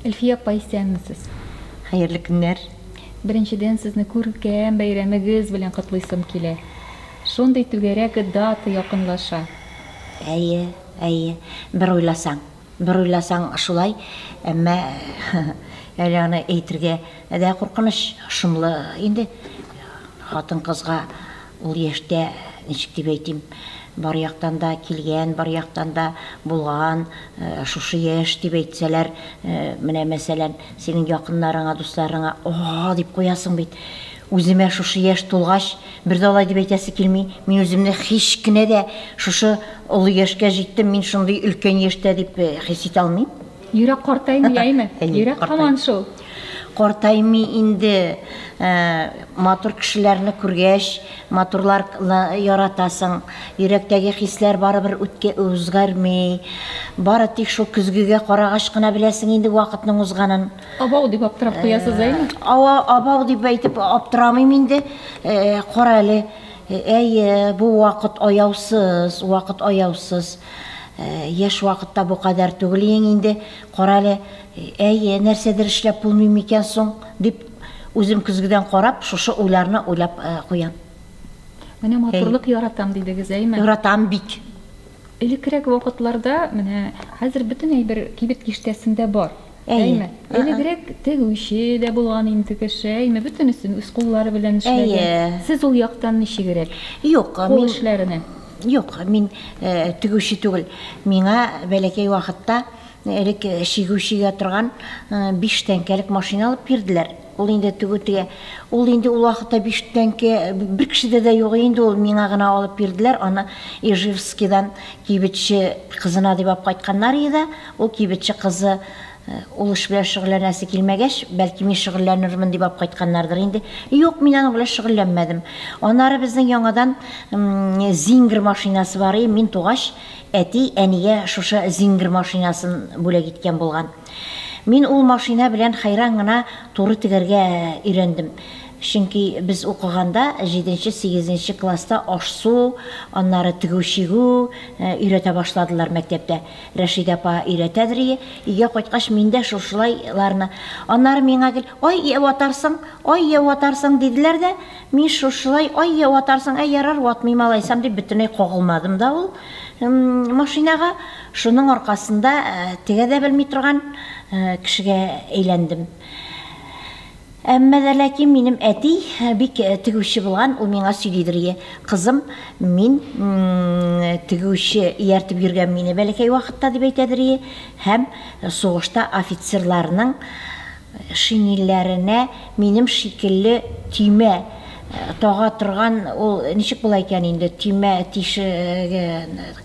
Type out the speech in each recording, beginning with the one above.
Әлфия апа исәнмесез. Хәерле көннәр. Беренчедән сезне күркәм бәйрәмегез белән котлыйсым килә. Шундый түгәрәк дата якынлаша. Әйе, әйе. Бер уйласаң, бер уйласаң шулай, әмма әле аны әйтергә дә куркыныч. Шомлы инде хатын-кызга Ул яшьтә, ничек дип әйтим, бар яктан да килгән, бар яктан да булган, шушы яшь дип әйтсәләр, менә мәсәлән, синең якыннарыңа, дусларыңа, О-о-о! дип куясың бит. Үземә шушы яшь тулгач, бер дә алай дип әйтәсе килми. Мин үземне һич кенә дә шушы олы яшькә җиттем, мин шундый өлкән яшьтә дип хис итә алмыйм. Йөрәк картаймый әйме? Йөрәк һаман шул. Картаймый инде. Матур кешеләрне күргәч, матурлар яратасың. Йөрәктәге хисләр барыбер үткә узгәрми. Бары тик шул көзгегә карагач кына беләсең инде вакытның узганын. Абау дип аптырап куясыз әйме? Ава, абау дип әйтеп аптырамыйм инде. Кара әле, әйе, бу вакыт аяусыз, вакыт аяусыз. Яшь вакытта бу кадәр түгел ең инде, карале, әйе, нәрсәдер эшләп булмый микән соң, дип, үзем көзгедән карап, шушы уйларны уйлап куям. Менә матурлык яратам дидегез, әйме? Яратам бик. Элеккерәк вакытларда, менә хәзер бөтен әйбер кибет киштәсендә бар. Әйе. Әйме? Ы-ы. Элегрәк тегүче дә булган инде кеше, әйме? Бөтенесен үз куллары белән эшләгән. Әйе. Сез ул яктан ничегрәк? Юк, мин... Кул эшләренә. Юк, мин тегүче түгел. Миңа бәләкәй вакытта элек чигү чигә торган биш тәңкәлек машина алып бирделәр. Ул инде тегү тегә. Ул инде ул вакытта биштәнке бер кешедә дә юк инде ул, миңа гына алып бирделәр, аны Ижевскидан кибетче кызына дип алып кайтканнар иде дә, ул кибетче кызы ул эш белән шөгыльләнәсе килмәгәч, бәлки мин шөгыльләнермен дип алып кайтканнардыр инде. Юк, мин аның белән шөгыльләнмәдем. Аннары безнең яңадан Зингер машинасы бар и, мин тугач, әти әнигә шушы Зингер машинасын бүләк иткән булган. Мин ул машина белән хәйран гына туры тегәргә өйрәндем. Чөнки без укыганда, җиденче, сигезенче класста аш-су, аннары тегү-чигү өйрәтә башладылар мәктәптә. Рәшидә апа өйрәтәдерие, өйгә кайткач, мин дә шушылай ларны. Аннары миңа гел, Ай, йә ватарсың, ай, йә ватарсың, диделәр дә, мин шушылай, Ай, йә ватарсың, әй, ярар, ватмыйм алайсам, дип бөтенләй кагылмадым да ул машинага. Шуның аркасында тегә дә белми торган кешегә әйләндем. Әмма дә ләкин минем әти бик тегүче булган, ул миңа сөйлидер, Е, кызым, мин тегүче ияртеп йөргән мине бәләкәй вакытта, дип әйтәдер, Е, һәм сугышта офицерларның Шинельләренә минем шикелле төймә тага торган, ул ничек була икән инде, төймә тишеге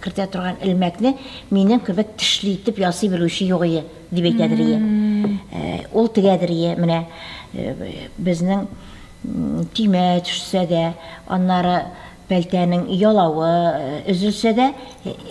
кертә торган элмәкне минем кебек тешле итеп ясый белүче югые, дип әйтә Дөрия. Ул тегә Дөрия, менә безнең төймә төшсә дә, аннары. Пәлтәнең ялавы өзелсә дә,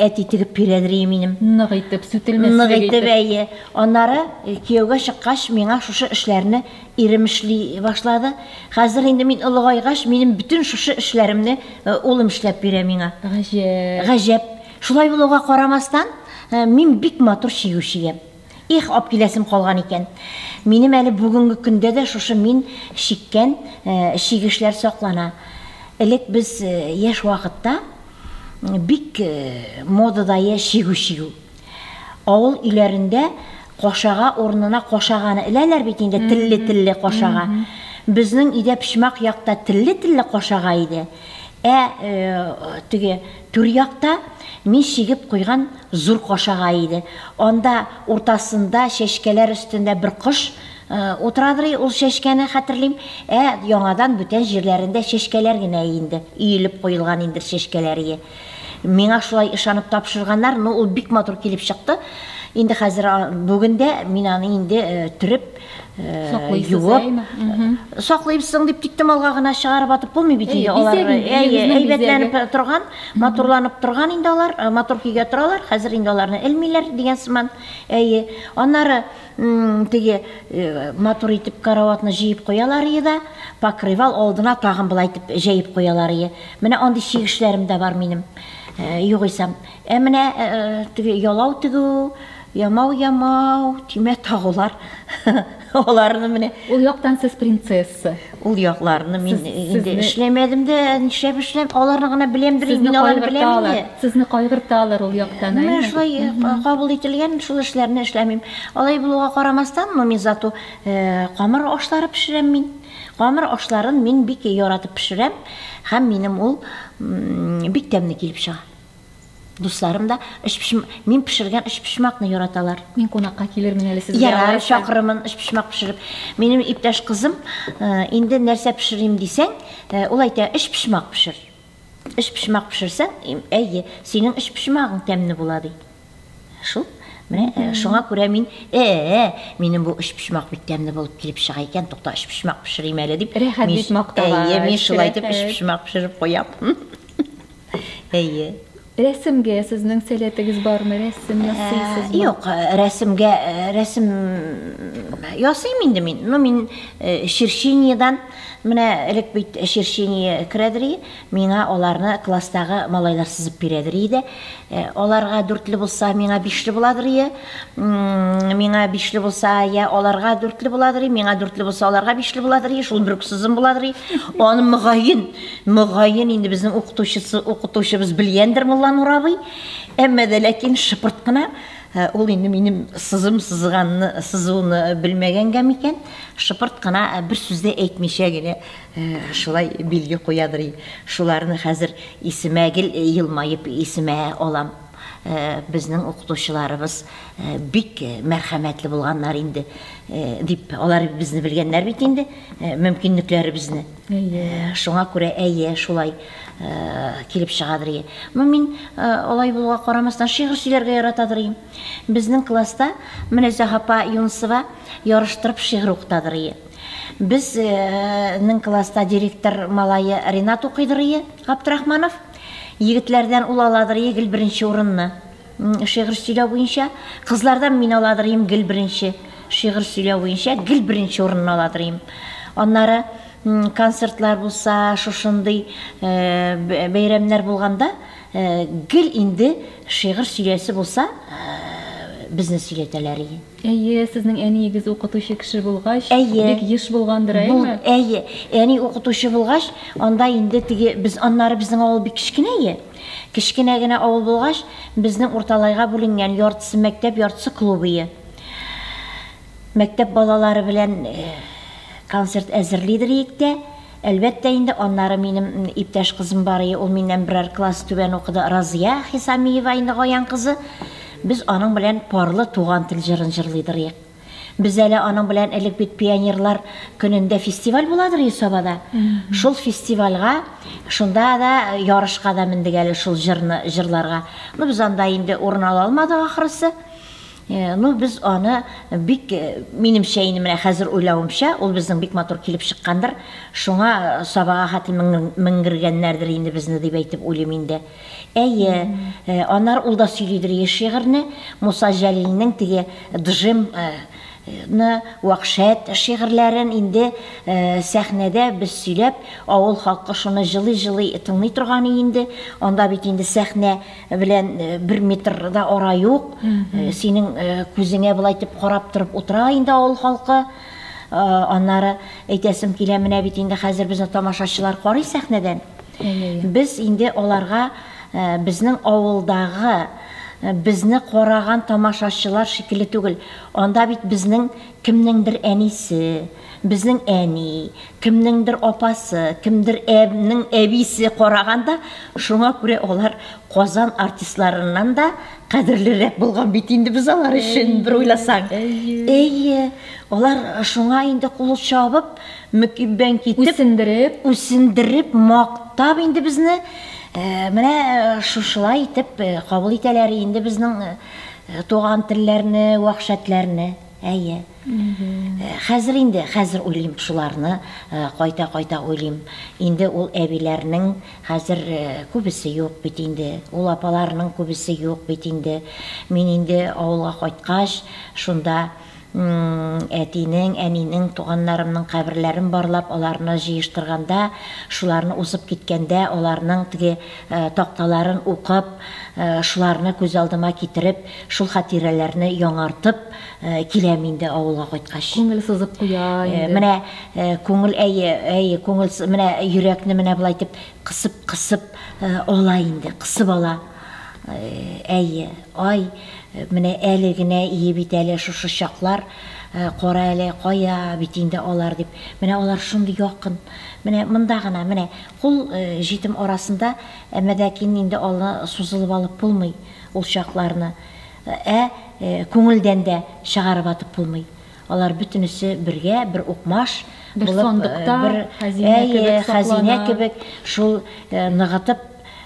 әти тегеп бирәдер ие минем. Нык итеп, сүтелмәслек итеп. Нык итеп, әйе. Аннары кияүгә чыккач, миңа шушы эшләрне ирем эшли башлады. Хәзер инде мин олыгайгач, минем бөтен шушы эшләремне улым эшләп бирә миңа. Гаҗәп. Гаҗәп. Шулай булуга карамастан, мин бик матур чигүче ям. Их, апкиләсем калган икән. Минем әле бүгенге көндә дә шушы мин чиккән чигешләр саклана. Элек без яшь вакытта бик модадайы чигү чигү. Авыл өйләрендә кашага урынына кашаганы эләләр бит инде, телле-телле кашага. Безнең өйдә почмак якта телле-телле кашага иде. Ә теге Түрьякта мин чигеп куйган зур кашагай иде. Анда уртасында, чәчкәләр өстендә бер кош утырадыр иде, ул чәчкәне хәтерлим. Ә яңадан бүтән җирләрендә чәчкәләр генә инде, өелеп куелган индер чәчкәләрие. Миңа шулай ышанып тапшырганнар, ну, ул бик матур килеп чыкты. Инде хәзер, бүген дә мин аны инде төреп, юып саклыйбызсың дип тиктем алга гына чыгарып атып булмый бит инде алар әйбәтләнеп торган матурланып торган инде алар матур көйгә торалар хәзер инде аларны элмиләр дигән сыман әйе аннары теге матур итеп караватны җыеп куялар ие да покрывал алдына тагын былай итеп җәеп куялар ие менә андый чигешләрем дә бар минем югыйсә Ә менә теге ялау тегү, ямау ямау, тимә тагулар, аларны менә. Ул яктан сез принцесса. Ул якларны мин инде эшләмәдем дә, нишләп эшлим, аларны гына беләм дә бит, мин аларны беләм инде. Сезне кайгырталар ул яктан, әйеме? Менә шулай кабул ителгән, шул эшләрне эшләмим. Алай булуга карамастан, но мин зато камыр ашлары пешерәм мин. Камыр ашларын мин бик яратып пешерәм һәм минем ул бик тәмле килеп чыга. Дусларым да өчпочмак, мин пешергән өчпочмакны яраталар. Мин кунакка килермен әле сезгә. Ярар, чакырырмын өчпочмак пешереп. Минем иптәш кызым, э, инде нәрсә пешерим дисәң, э, ул әйтә, өчпочмак пешер. Өчпочмак пешерсәң, әйе, синең өчпочмагың тәмле була, ди. Шул. Менә э, шуңа күрә мин, э, минем бу өчпочмак бик тәмле булып килеп чыга икән, тукта, өчпочмак пешерим әле дип. Рәхәт бит мактага. Әйе, мин шулай дип өчпочмак пешереп куям. Әйе. Рәсемгә сезнең сәләтегез бармы? Рәсем ясыйсызмы? Э, юк, э, рәсемгә э, рәсем ясыйм инде мин. Ну, мин черчениедән менә элек бит черчение керәдери, миңа аларны класстагы малайлар сызып бирәдери иде. Аларга дүртле булса, миңа бишле буладыр ие. Миңа бишле булса, я аларга дүртле буладыр, миңа дүртле булса, аларга бишле буладыр, шул бер сызым буладыр. Аны мөгаен Мөгаен, инде безнең укытучысы, укытучыбыз белгәндер Мулланур абый. Әмма дә ләкин шыпырт кына э, ул инде минем сызым сызганны, сызуны белмәгәнгә микән, шыпырт кына э, бер сүз дә әйтмичә генә э, шулай билге куядыр. Шуларны хәзер исемә гел елмаеп исемә алам. Э, безнең укытучыларыбыз э, бик э, мәрхәмәтле булганнар инде дип алар безне белгәннәр бит инде мөмкинлекләребезне Әйе, шуңа күрә әйе, шулай килеп чыгадыр ие. Ну, мин алай булуга карамастан шигырь сөйләргә яратадыр ие. Безнең класста менә Зәһапа Юнсова ярыштырып шигырь укытадыр ие. Безнең класста директор малае Ринат укыйдыр ие, Габдрахманов. Егетләрдән ул аладыр ие гел беренче урынны. Шигырь сөйләү буенча кызлардан мин аладырыйм гел беренче. Шигырь сөйләү буенча гел беренче урынны аладырыйм. Аннары концертлар булса, шушындый э, бәйрәмнәр булганда э, гел инде шигырь сөйләсе булса, э, безне сөйләтәләр иде. Әйе, сезнең әниегез укытучы кеше булгач, әйе. бик еш булгандыр, әйеме? Әйе. Әни укытучы булгач, анда инде теге без аннары безнең авыл бик кечкенә Кечкенә генә авыл булгач, безнең Урталайга бүленгән, яртысы мәктәп, яртысы клубые. Мәктәп балалары белән концерт әзерлидер иек тә, әлбәттә инде, аннары минем иптәш кызым бар ие, ул миннән берәр класс түбән укыды, Разия Хисамиева инде Гаян кызы, без аның белән парлы Туган тел җырын җырлыйдыр иек. Без әле аның белән элек бит пионерлар көнендә фестиваль буладыр Йособада. Шул фестивальга, шунда да ярышка да мендек әле шул җырны җырларга. Ну без анда инде урын ала алмадык ахрысы. Ну без аны бик, минемчә инде менә хәзер уйлавымча, ул безнең бик матур килеп чыккандыр. Шуңа сабага хәтле менгергәннәрдер инде безне дип әйтеп уйлыйм инде. Әйе, анар ул да сөйлидер еш шигырьне, Муса Җәлилнең теге Джим ны, Вахшәт шигырьләрен инде сәхнәдә без сөйләп, авыл халкы шуны җылый-җылый тыңлый торган и инде, анда бит инде сәхнә белән бер метр да ара юк, синең күзеңә болай итеп карап торып утыра инде авыл халкы, аннары әйтәсем килә, менә бит инде хәзер безне тамашачылар карый сәхнәдән. Без инде аларга безнең авылдагы, безне караган тамашачылар шикелле түгел. Анда бит безнең кемнеңдер әнисе, безнең әни, кемнеңдер апасы, кемдер нең әбисе караган да, шуңа күрә алар Казан артистларыннан да кадерлерәк булган бит инде без алар өчен, бер уйласаң. Әйе, алар шуңа инде кул чабып, Мөкиббән китеп. Үсендереп. Үсендереп, мактап инде безне менә шушылай итеп кабул итәләр инде безнең туган телләрне, вәхшәтләрне. Әйе. Хәзер инде, хәзер уйлыйм шуларны, кайта-кайта уйлыйм. Инде ул әбиләрнең хәзер күбесе юк бит инде, ул апаларның күбесе юк бит инде. Мин инде авылга кайткач, шунда. М-м-м, әтинең, әнинең, туганнарымның каберләрен барлап, аларны җыештырганда, шуларны узып киткәндә, аларның теге такталарын укып, шуларны күз алдыма китереп, шул хатирәләрне яңартып киләм инде авылга кайткач. Күңел сызып куя инде. Менә күңел, әйе, әйе, күңел, менә йөрәкне менә болай итеп Кысып кысып ала инде, кысып ала. Әйе, ай, менә әле генә ие бит әле шушы чаклар, кара әле, кая бит инде алар дип. Менә алар шундый якын, менә монда гына, менә кул җитем арасында, әмма ләкин инде алны сузылып алып булмый ул чакларны. Ә күңелдән дә чыгарып атып булмый. Алар бөтенесе бергә, бер укмаш Бер булып, э, сандыкта, бер хәзинә әйе, кебек хәзинә саклана. кебек шул э, ныгытып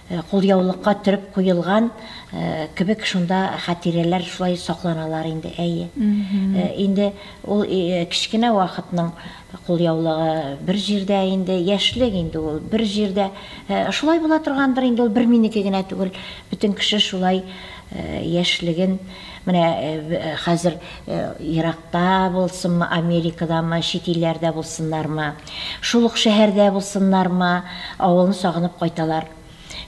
э, кулъяулыкка төреп куелган э, кебек шунда хатирәләр шулай сакланалар инде, әйе. Э, Инде ул э, кечкенә вакытның Кул яулыгы бер җирдә инде, яшьлек инде ул, бер җирдә. Шулай була торгандыр инде, ул бер минеке генә түгел, бөтен кеше шулай яшьлеген, менә хәзер еракта булсынмы, Америкадамы, чит илләрдә булсыннармы, шул ук шәһәрдә булсыннармы, авылын сагынып кайталар.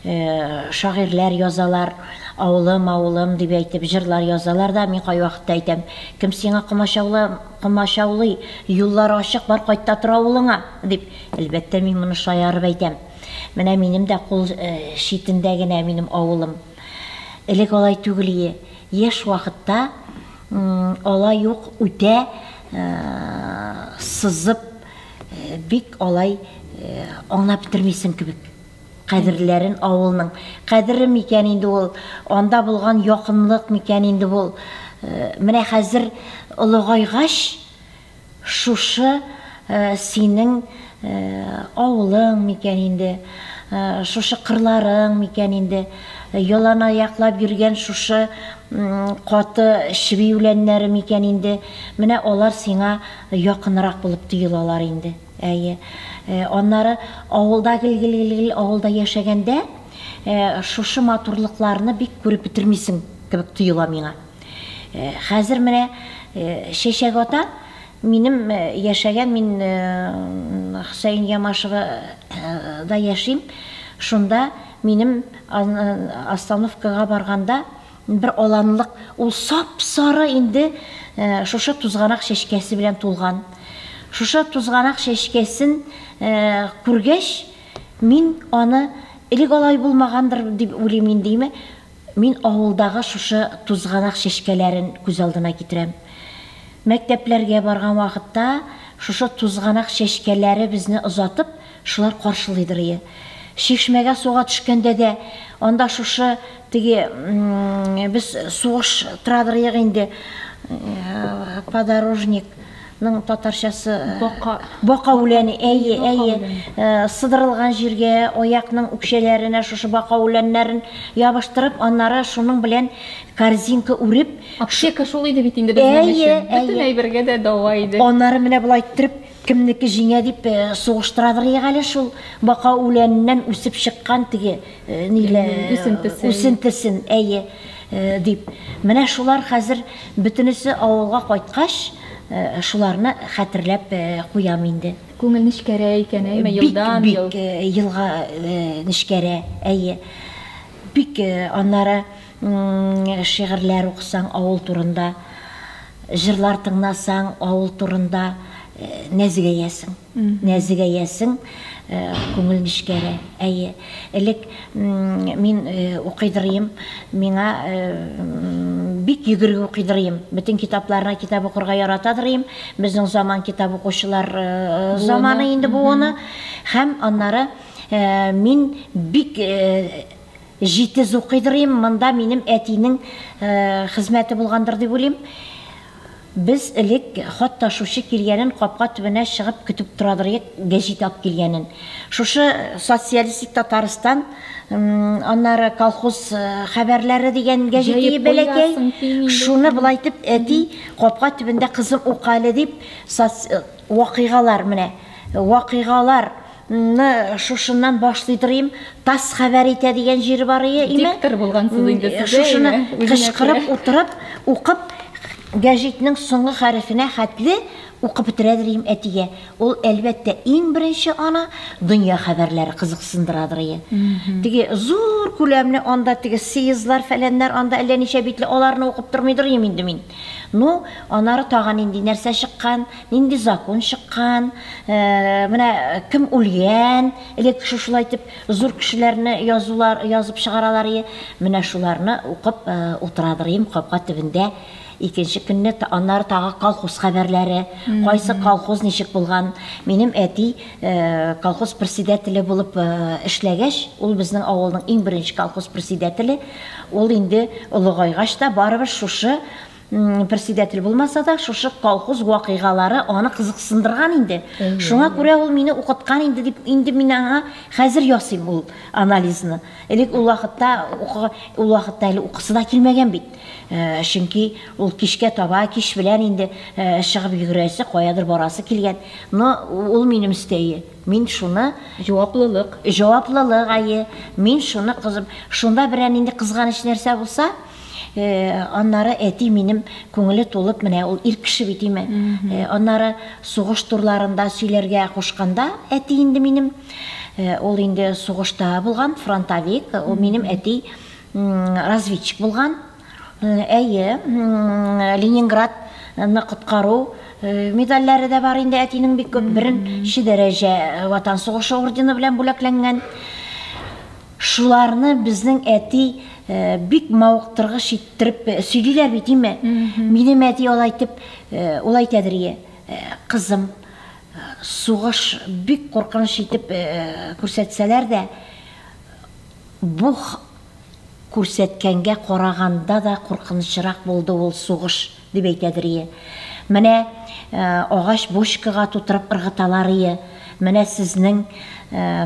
Шагыйрьләр язалар, Авылым, авылым, дип әйтеп, җырлар язалар да, мин кайвакытта әйтәм, Кем сиңа комачаулый, юллар ачык, бар кайт та тор авылыңа! дип. Әлбәттә, мин моны шаярып әйтәм. Менә минем дә кул читендә генә минем авылым. Элек алай түгел ие. Яшь вакытта алай ук үтә сызып, бик алай аңлап бетермисең кебек. Кадерләрен авылның кадере микән инде ул, анда булган якынлык микән инде ул? Менә хәзер олыгайгач, шушы синең авылың микән инде, шушы кырларың микән инде, яланаяклап йөргән шушы каты чеби үләннәре микән инде, менә алар сиңа якынрак булып тоелалар инде. Әйе. Аннары авылда гел-гел-гел-гел авылда яшәгәндә, шушы матурлыкларны бик күреп бетермисең кебек тоела миңа. Хәзер менә Чәчәк ата минем яшәгән, мин Хөсәен Ямашева да яшим, шунда минем остановкага барганда, Бер аланлык ул сап-сары инде шушы тузганак чәчкәсе белән тулган. Шушы тузганак чәчкәсен күргәч, мин аны, элек алай булмагандыр дип уйлыйм индеме, мин авылдагы шушы тузганак чәчкәләрен күз алдына китерәм. Мәктәпләргә барган вакытта шушы тузганак чәчкәләре безне озатып, Шулар каршылыйдыр ие. Чишмәгә суга төшкәндә дә, анда шушы теге без сугыш торадыр ек инде, подорожник ның татарчасы бака бака үләне әйе әйе сыдырылган җиргә аякның үкчәләренә шушы бака үләннәрен ябыштырып аннары шуның белән корзинка үреп аптека шул иде бит инде безнең өчен бөтен әйбергә дә дәва иде аннары менә болай иттереп Кемнеке җиңә дип сугыштырадыр ек әле шул бака үләненнән үсеп чыккан теге үсентесен, әйе, дип. Менә шулар хәзер бөтенесе авылга кайткач, шуларны хәтерләп куям инде. Күңел нечкәрәя икән, әйеме, елдан ел? Бик, бик елга нечкәрә, әйе. Бик, аннары Шигырьләр укысаң, авыл турында, җырлар тыңнасаң, авыл турында нәзегәясең. Нәзегәясең, күңел нечкәрә. Әйе. Элек мин укыйдырыйм, миңа бик йөгерге укыйдырыйм. Бөтен китапларны китап укырга яратадырыйм. Безнең заман китап укучылар заманы инде буыны. Һәм аннары мин бик Җитез укыйдыр им, монда минем әтинең хезмәте булгандыр дип уйлыйм. Без элек хат ташучы килгәнен капка төбенә чыгып көтеп торадыр идек, гәҗит алып килгәнен. Шушы Социалистик Татарстан, аннары Колхоз хәбәрләре дигән гәҗитие бәләкәй, шуны болай итеп, әти, капка төбендә кызым ука әле дип, соц вакыйгалар, менә вакыйгалар. Ны шушыннан башлый торыйм. Тас хәбәр итә дигән җир бар ие име? Диктор булгансыз инде сез. Шушыны кычкырып утырып, укып, гәҗитнең соңгы хәрефенә хәтле укып бетерә дирим әтигә. Ул, әлбәттә, иң беренче аны дөнья хәбәрләре кызыксындырадыр ие. Теге зур күләмле анда теге съездлар, фәләннәр анда әллә ничә битле, аларны укып тормый дорыйм инде мин. Ну, анары тагы нинди нәрсә чыккан? Нинди закон чыккан, менә кем үлгән, элек шушылай итеп зур кешеләрне язулар, язып чыгаралар ие, менә шуларны укып утырадыр ием капка төбендә. Икенче көнне аннары тагы колхоз хәбәрләре, кайсы колхоз ничек булган. Минем әти колхоз председателе булып эшләгәч, ул безнең авылның иң беренче колхоз председателе, ул инде олыгайгач та барыбер шушы Председатель булмаса да, шушы колхоз вакыйгалары аны кызыксындырган инде. Шуңа күрә ул мине укыткан инде дип, инде мин аңа хәзер ясыйм ул анализны. Элек ул вакытта укыга, ул вакытта әле укысы да килмәгән бит. Э, чөнки ул кичкә таба, кич белән инде э, чыгып йөгерәсе, каядыр барасы килгән. Но ул минем өстәе. Мин шуны Җаваплылык. җаваплылык ае. Мин шуны кызып, шунда берәр нинди кызганыч нәрсә булса, Аннары әти минем күңеле тулып, менә ул ир кеше бит име. Аннары сугыш турларында сөйләргә кушканда, әти инде минем, ул инде сугышта булган, фронтовик, ул минем әти разведчик булган. Әйе, Ленинград ны коткару э, медальләре дә бар инде әтинең бик күп беренче дәрәҗә э, ватан сугышы ордены белән бүләкләнгән Шуларны безнең әти бик мавыктыргыч иттереп сөйлиләр бит, име? Минем әти алай итеп, ул әйтәдер, ие, кызым, сугыш бик куркыныч итеп күрсәтсәләр дә, бу күрсәткәнгә караганда да куркынычрак булды ул сугыш. Дип әйтәдер ие. Менә агач бочкага тутырып ыргыталар ие. Менә сезнең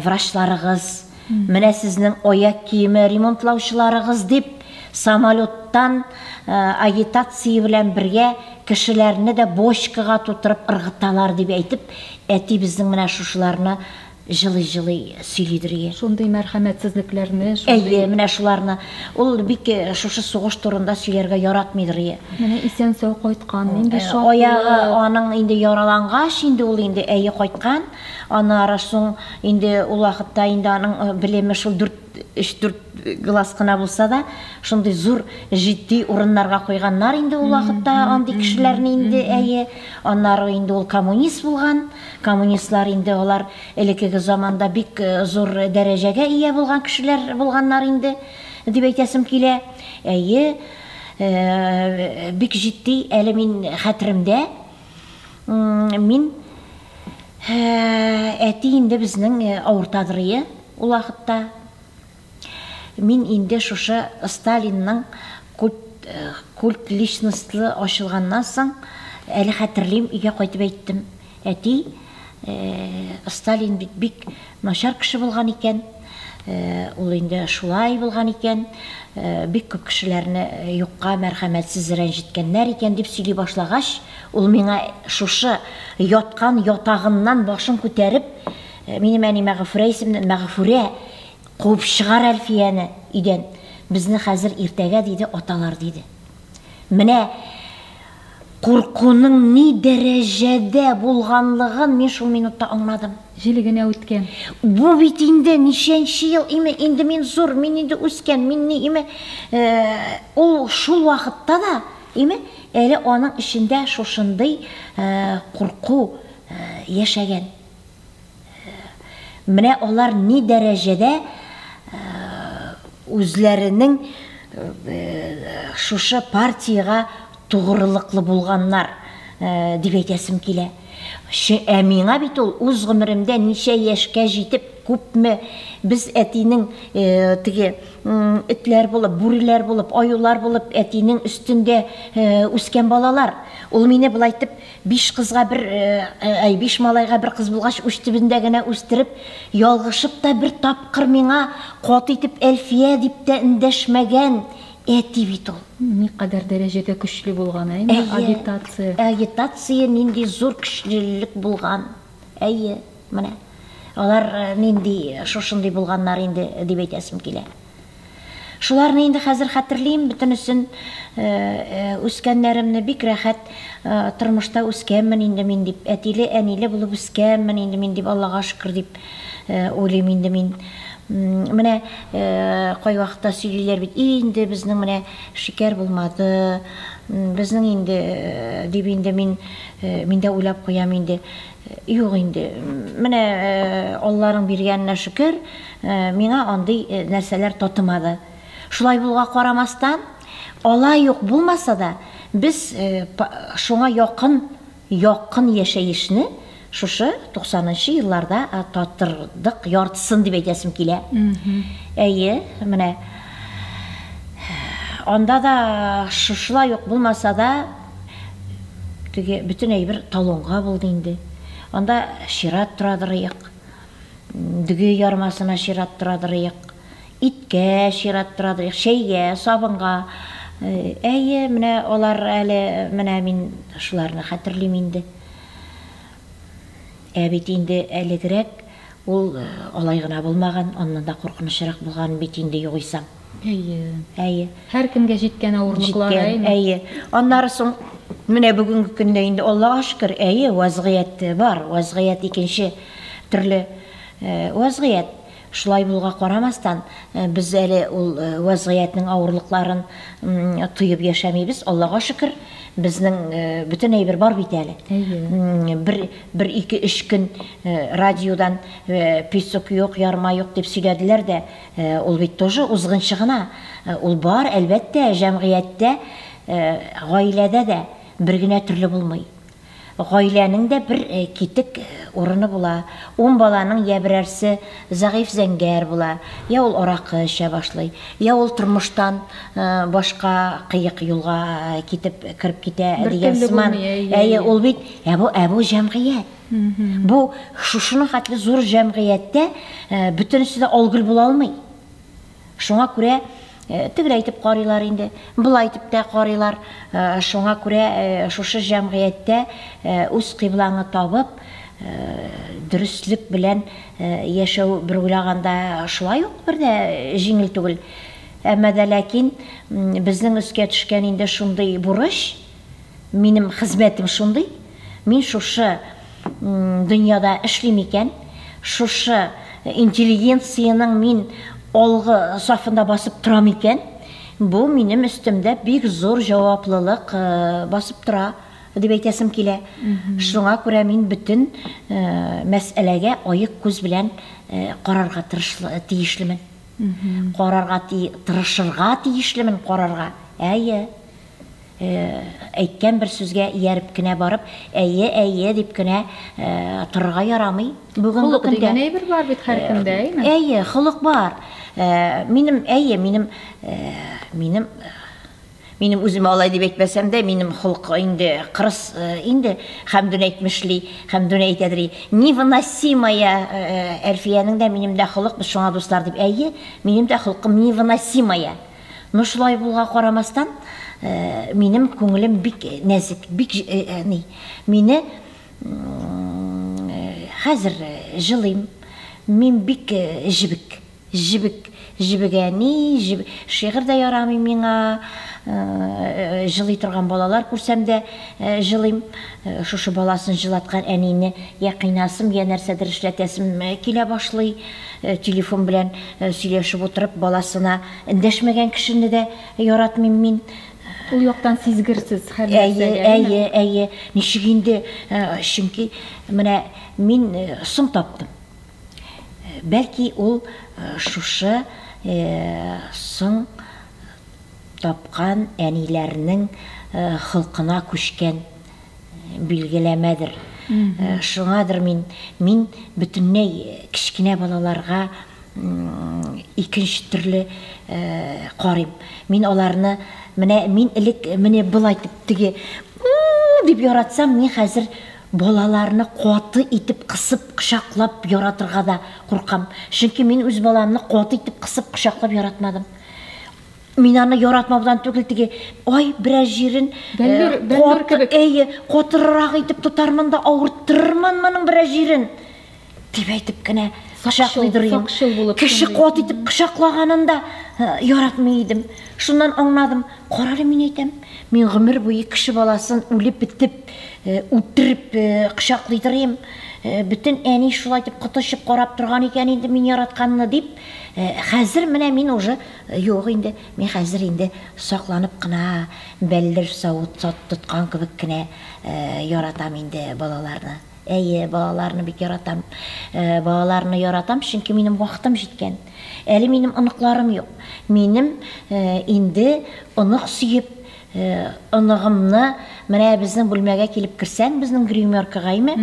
врачларыгыз, менә сезнең аяк киеме ремонтлаучыларыгыз дип самолеттан агитация белән бергә кешеләрне дә бочкага тутырып ыргыталар дип әйтеп, әти безнең менә шушыларны Җылый-җылый сөйли Дөрия. Шундый мәрхәмәтсезлекләрне, шундый. Әйе, менә шуларны. Ул бик шушы сугыш турында сөйләргә яратмый Дөрия. Менә исән-сау кайткан, нинди шатлык. Аягы аның инде яралангач, инде ул инде, әйе, кайткан. Аннары соң инде ул вакытта инде аның белеме шул дүрт, өч-дүрт глаз кына булса да, шундый зур, җитди урыннарга куйганнар инде ул вакытта андый кешеләрне инде, әйе. Аннары инде ул коммунист булган. Коммунистлар инде алар элекеге заманда бик зур дәрәҗәгә ия булган кешеләр булганнар инде, дип әйтәсем килә. Әйе, бик җитди, әле мин хәтеремдә, мин әти инде безнең авыртадырые ул вакытта. Мин инде шушы Сталинның культ культ личностлы ачылганнан соң, әле хәтерлим, өйгә кайтып әйттем, Әти, Сталин бит бик начар кеше булган икән, ул инде шулай булган икән, бик күп кешеләрне юкка мәрхәмәтсез рәнҗеткәннәр икән, дип сөйли башлагач, ул миңа шушы яткан ятагыннан башын күтәреп, минем әнимә Гафурә исемле, Мәгъфүрә, Куып чыгар Әлфияне өйдән, безне хәзер иртәгә, диде аталар, диде. Менә куркуның ни дәрәҗәдә булганлыгын мин шул минутта аңладым. Җил генә үткән. Бу бит инде ничәнче ел име, инде мин зур, мин инде үскән, мин ни име, ул шул вакытта да име, әле аның эчендә шушындый курку яшәгән. Менә алар ни дәрәҗәдә үзләренең шушы партиягә тугрылыклы булганнар дип әйтәсем килә. Ә миңа бит ул үз гомеремдә ничә яшькә җитеп, күпме без әтинең теге этләр булып, бүреләр булып, аюлар булып әтинең өстендә үскән балалар. Ул мине болай итеп Биш кызга бер, әй, биш малайга бер кыз булгач, уч төбендә генә үстереп, ялгышып та бер тапкыр миңа каты итеп Әлфия дип тә эндәшмәгән әти бит ул. Никадәр дәрәҗәдә көчле булган, ә инде агитация. Әйе, агитация нинди зур көчлелек булган. Әйе, менә алар нинди, шушындый булганнар инде, дип әйтәсем килә. Шуларны инде хәзер хәтерлим, бөтенесен үскәннәремне бик рәхәт тормышта үскәнмен инде мин дип, әтиле, әниле булып үскәнмен инде мин дип, Аллага шөкер дип уйлыйм инде мин. Менә кайвакытта сөйлиләр бит, инде безнең менә шикәр булмады, безнең инде дип инде мин миндә уйлап куям инде. Юк инде, менә Алланың биргәненә шөкер, миңа андый нәрсәләр татымады. Шулай булуга карамастан, алай ук булмаса да, без шуңа якын, якын яшәешне шушы туксанынчы елларда татырдык яртысын дип әйтәсем килә. Әйе, менә анда да шушылай ук булмаса да, Теге бөтен әйбер талонга булды инде. Анда чират торадырыйк. Дөге ярмасына чират торадырыйк. Иткә чират торадырыйк, чәйгә, сабынга. Әйе, менә алар әле, менә мин шуларны хәтерлим инде. Ә бит инде әлегрәк Ул алай гына булмаган, аннан да куркынычрак булган бит инде югыйсә. Әйе. Әйе. Һәркемгә җиткән авырлыклар, әйме? Җиткән, әйе. Аннары соң менә бүгенге көндә инде, Аллага шөкер, әйе, вазгыять бар, вазгыять икенче төрле вазгыять. Шулай булуга карамастан, без әле ул вазгыятьнең авырлыкларын тоеп яшәмибез, Аллага шөкер, безнең бөтен әйбер бар бит әле. Әйе. Бер Бер ике-өч көн радиодан песок юк, ярма юк дип сөйләделәр дә, ул бит тоже узгынчы гына. Ул бар, әлбәттә, җәмгыятьтә, гаиләдә дә бер генә төрле булмый. Гаиләнең дә бер китек урыны була. Ун баланың йә берәрсе зәгыйфь зәңгәр була, йә ул аракы эчә башлый, йә ул тормыштан башка кыек юлга китеп кереп китә дигән сыман. Әйе, ул бит. Ә бу ә бу җәмгыять. Бу шушының хәтле зур җәмгыятьтә э, бөтенесе дә алгыл була алмый. Шуңа күрә э, тегеләй итеп карыйлар инде, былай итеп тә карыйлар. Э, шуңа күрә шушы җәмгыятьтә үз кыйблаңы табып, дөреслек белән яшәү бер уйлаганда шулай ук бер дә җиңел түгел. Әмма дә ләкин безнең өскә төшкән инде шундый бурыч, Минем хезмәтем шундый, мин шушы дөньяда эшлим икән, шушы интеллигенциянең мин алгы сафында басып торам икән, бу минем өстемдә бик зур җаваплылык э, басып тора дип әйтәсем килә. Шуңа күрә мин бөтен э, мәсьәләгә аек күз белән э, карарга тырышлы, тиешлемен. Карарга тырышырга тиешлемен, карарга. Әйе. Әйткән бер сүзгә ияреп кенә барып, әйе, әйе дип кенә торырга ярамый. Бүген бу көндә дигән әйбер бар бит һәркемдә, әйеме? Әйе, холык бар. Минем, әйе, минем, минем Минем үзем алай дип әйтмәсәм дә, минем холык инде кырыс инде Хәмдүн әйтмешли, Хәмдүн әйтәдри. Невыносимая Әлфиянең дә минем дә холык, без шуңа дуслар дип. Әйе, минем дә холкым невыносимая. Но шулай булга карамастан, минем күңелем бик нәзек, бик әни. Мине хәзер җылыйм. Мин бик җебек. Җебек, җебек әни, җебек. Шигырь дә ярамый миңа. Җылый торган балалар күрсәм дә җылыйм. Шушы баласын җылаткан әнине я кыйнасым, я нәрсәдер эшләтәсем килә башлый. Телефон белән сөйләшеп утырып баласына эндәшмәгән кешене дә яратмыйм мин. Ул яктан сизгерсез һәр нәрсәгә. Әйе, әйе, әйе. Ничек инде, чөнки менә мин соң таптым. Бәлки ул шушы соң тапкан әниләрнең холкына күчкән Билгеләмәдер. Шуңадыр мин, мин бөтенләй кечкенә балаларга икенче төрле карыйм. Мин аларны, менә мин элек менә болай дип, теге дип яратсам, мин хәзер балаларны каты итеп кысып, кочаклап яратырга да куркам. Чөнки мин үз баламны каты итеп кысып, кочаклап яратмадым. Мин аны яратмаудан түгел, теге ай бераз җирен бәллүр, э, бәллүр кебек. Әйе, котырырак итеп тотармын да авырттырырмын моның бераз җирен. Дип әйтеп кенә кочаклыйдыр идем. Кеше кот итеп кочаклаганында э, яратмый идем. Шуннан аңладым, карале мин әйтәм, мин гомер буе кеше баласын үлеп бетеп, э, үтереп кочаклыйдыр идем. Бүтән әни шулай дип котышып карап торган икән инде мин яратканны дип. Хәзер менә мин уже Юк инде, мин хәзер инде сакланып кына, бәлдер савыт тоткан кебек кенә яратам инде балаларны. Әйе, балаларны бик яратам. Балаларны яратам, чөнки минем вакытым җиткән. Әле минем оныкларым юк. Минем инде онык сөеп, оныгымны менә безнең бүлмәгә килеп керсәң, безнең гримеркагаймы,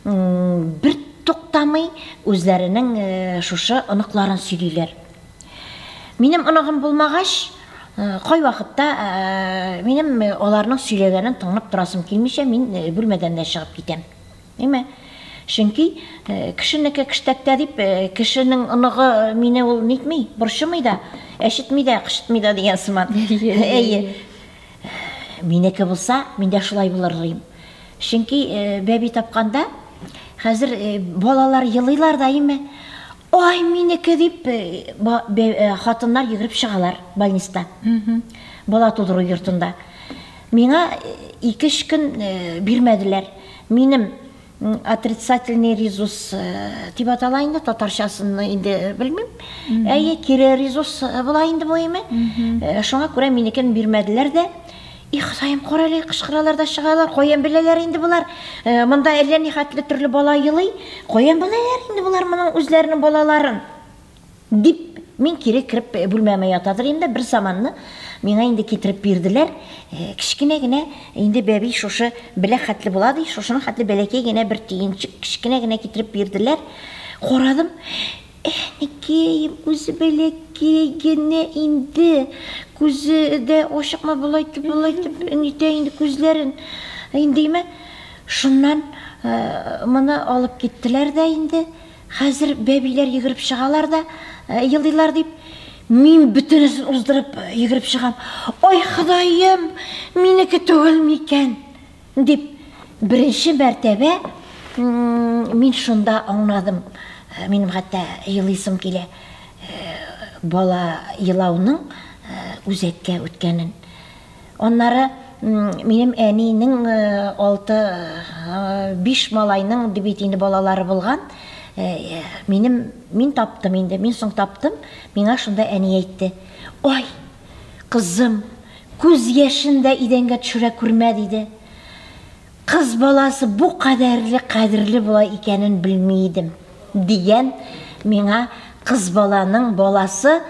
бер туктамый үзләренең шушы оныкларын сөйлиләр. Минем оныгым булмагач, э, кайвакытта э, минем э, аларның сөйләгәнен тыңлап торасым килмичә, мин бүлмәдән дә чыгып китәм. Әйме? Чөнки кешенеке кештәктә дип, кешенең оныгы мине ул нитми, борчымый да, әшетми дә, кышытмый да дигән сыман. Әйе. Минеке булса, мин дә шулай булыр дим. Чөнки бәби тапканда хәзер балалар елыйлар да, әйме? Ай, минеке дип, хатыннар йөгереп чыгалар больниста. Бала тудыру йортында. Миңа ике өч көн бирмәделәр. Минем отрицательный резус дип атала инде, татарчасын инде белмим. Әйе, кире резус була инде бу име. Шуңа күрә минекен бирмәделәр дә. И Ходаем, карале, кычкыралар да чыгалар, каян беләләр инде болар? Э, монда әллә ни хәтле төрле бала елый, каян беләләр инде болар моның үзләренең балаларын? Дип Мин кире кереп э, бүлмәмә ятадыр инде бер заманны миңа инде китереп бирделәр. Э, кечкенә генә инде бәби шушы белә хәтле була ди, шушының хәтле бәләкәй генә бер төенчек кечкенә генә китереп бирделәр. Карадым, Әнекәем, үзе бәләкәй генә инде, күзе дә ачыкмы, болай итеп, болай итеп нитә инде күзләрен. Индиме, шуннан моны алып киттеләр дә инде. Хәзер бәбиләр йөгереп чыгалар да елыйлар дип, мин бөтенесен уздырып йөгереп чыгам. Ай, Ходаем, минеке түгелме икән? Дип, беренче мәртәбә мин шунда аңладым. Минем хәтта елыйсым килә. Бала елауның үзәккә үткәнен. Аннары минем әнинең алты, биш малайның бит инде балалары булган. Минем, мин таптым инде, мин соң таптым, миңа шунда әни әйтте. Ай! Кызым, күз яшен дә идәнгә төшерә күрмә, диде. Кыз баласы бу кадәрле кадерле була икәнен белми идем, дигән миңа кыз баланың баласы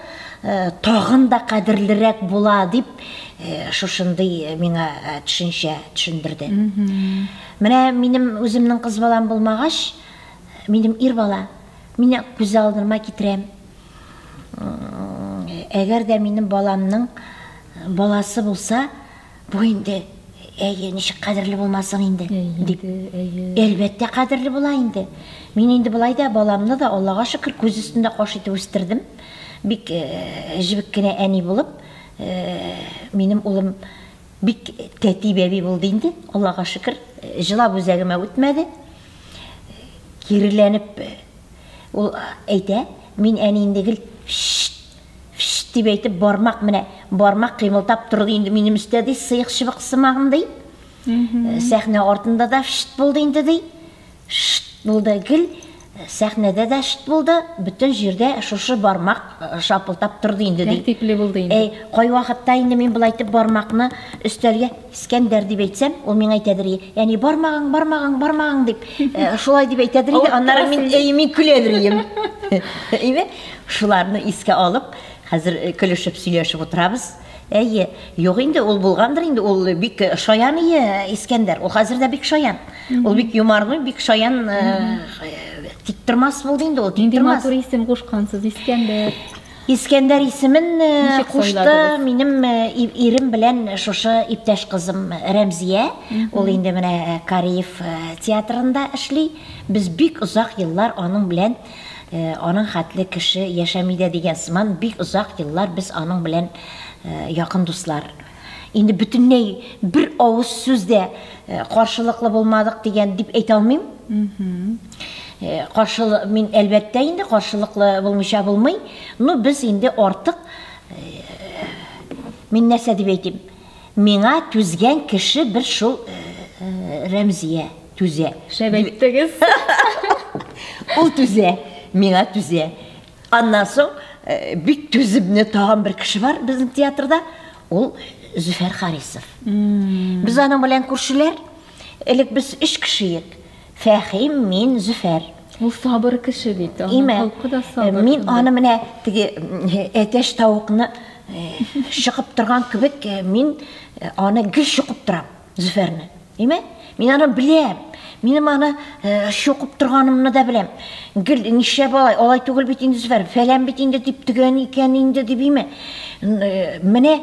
тагын да кадерлерәк була, дип шушындый миңа төшенчә төшендерде. Менә минем үземнең кыз балам булмагач, минем ир бала, мин күз алдыма китерәм, Әгәр дә минем баламның баласы булса, бу инде әйе, ничек кадерле булмасын инде, дип. Әлбәттә, кадерле була инде. Мин инде болай да баламны да, Аллага шөкер, күз өстендә каш итеп үстердем. Бик э, җебек кенә әни булып, э, минем улым бик тәти бәби булды инде, Аллага шөкер, э, җылап үзәгемә үтмәде. Киреләнеп Ул әйтә, мин әни инде гел шшт, шшт дип әйтеп, бармак менә, бармак кыймылтап торды инде минем өстә, ди, сыек-чыбык сымагым, ди. Сәхнә артында да шшт булды инде, ди. Шшт булды, гел сәхнәдә дә шшт булды, бөтен җирдә шушы бармак шапылтап торды инде, ди. Тәртипле булды инде. Әй, кайвакытта инде мин болай итеп бармакны өстәлгә Скәндәр дип әйтсәм, ул миңа әйтәдер, яни бармагың, бармагың, бармагың дип, э, шулай дип әйтәдер инде, аннары мин әй мин көләдер идем. Әйме? Шуларны искә алып, хәзер э, көлешеп сөйләшеп утырабыз. Әйе, юк инде, ул булгандыр инде, ул бик э, шаян ие э, Искәндәр, ул хәзер дә бик шаян. Ул бик юмарный, бик шаян, тик тормас булды инде ул, тик тормас. Матур исем кушкансыз, Искәндәр. Искәндәр исемен кушты минем ирем белән шушы иптәш кызым Рәмзия. Ул инде менә Кариев театрында эшли. Без бик озак еллар аның белән аның хәтле кеше яшәми дә дигән сыман бик озак еллар без аның белән якын дуслар. Инде бөтенләй бер авыз сүз дә э, каршылыклы булмадык дигән дип әйтә алмыйм. Э, Каршылы мин әлбәттә инде каршылыклы булмыйча булмый. Ну без инде артык э, мин нәрсә дип әйтим? Миңа түзгән кеше бер шул э, Рәмзия түзә. Шәп әйттегез. Ул түзә, миңа түзә. Аннан соң э, бик түземне тагын бер кеше бар безнең театрда. Ул Зөфәр Харисов. Без аның белән күршеләр. Элек без өч кеше идек. Фәхим, мин, Зөфәр. Ул сабыр кеше бит. Имә, э, мин аны менә теге әтәш тавыкны э, шыгып торган кебек, мин аны гел шыгып торам. Зөфәрне. Әйме? Мин аны беләм. Минем аны чокып э, торганымны да беләм. Гел нишләп алай, алай түгел бит инде Зөфәр, фәлән бит инде дип төгән икән инде дип име? Э, менә